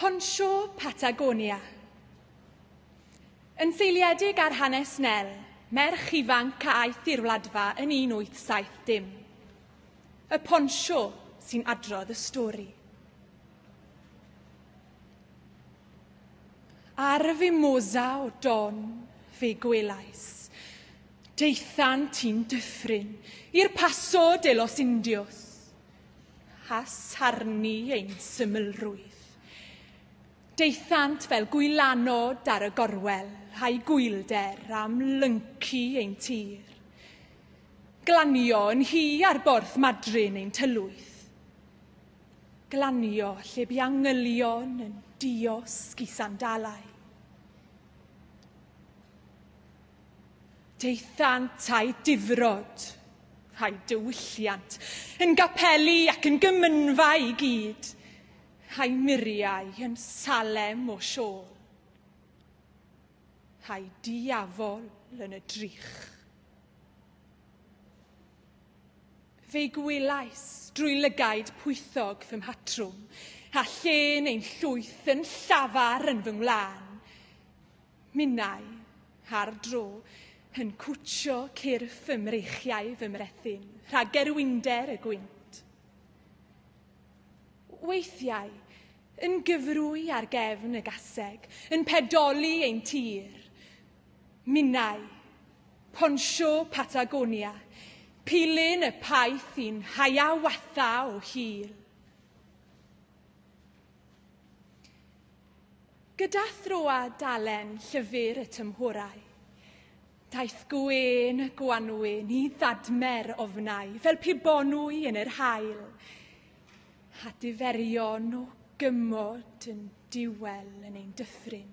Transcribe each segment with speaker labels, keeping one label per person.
Speaker 1: Poncho Patagonia. Yn seiliedig ar hanes Nel, merch ifanc a aeth i'r wladfa yn 1870. Y poncho sy'n adrodd y stori. Ar y fimosa o don fe gwelais. Deithan ti'n dyffryn i'r Paso de los Indios, a sarnu ein symlrwydd. Deithant fel gwylanod ar y gorwel a'i gwylder am lyncu ein tir. Glanio yn hi ar borth madryn ein tylwyth. Glanio lle bu angylion yn diosg i sandalau. Daethant â'u difrod, a'u diwylliant, yn gapeli ac yn gymynfa i gyd, a'u muriau yn Salem o siôl, a'u diafol yn y drych. Fe'i gwelais drwy lygaid pwythog fy mhatrwm, a llên ein llwyth yn llafar yn fy ngwlân. Minnau, ar dro, yn cwtsio cyrff fy mreichiau fy mrethyn, rhag gerwinder y gwynt. Weithiau, yn gyfrwy ar gefn y gaseg, yn pedoli ein tir. Minnau, ponsio Patagonia, pilyn y paith i'n haiawatha o hil. Gyda throa dalen llyfr y tymhorau, daeth gwên y gwanwyn i ddadmer ofnau fel pe bonwy yn yr hael, a diferion o gymod yn diwel yn ein dyffryn.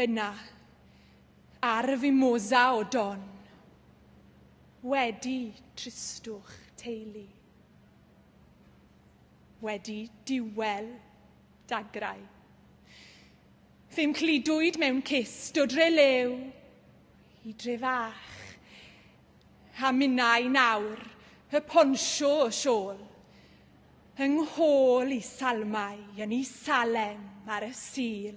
Speaker 1: Yna, ar y fimosa o don, wedi tristwch teulu, wedi diwel dagrau. Fe'm clidwyd mewn cist o dre lew i dre fach, a minnau nawr y ponsio o siôl, Yng nghôl i Salmau yn i Salem ar y Sul.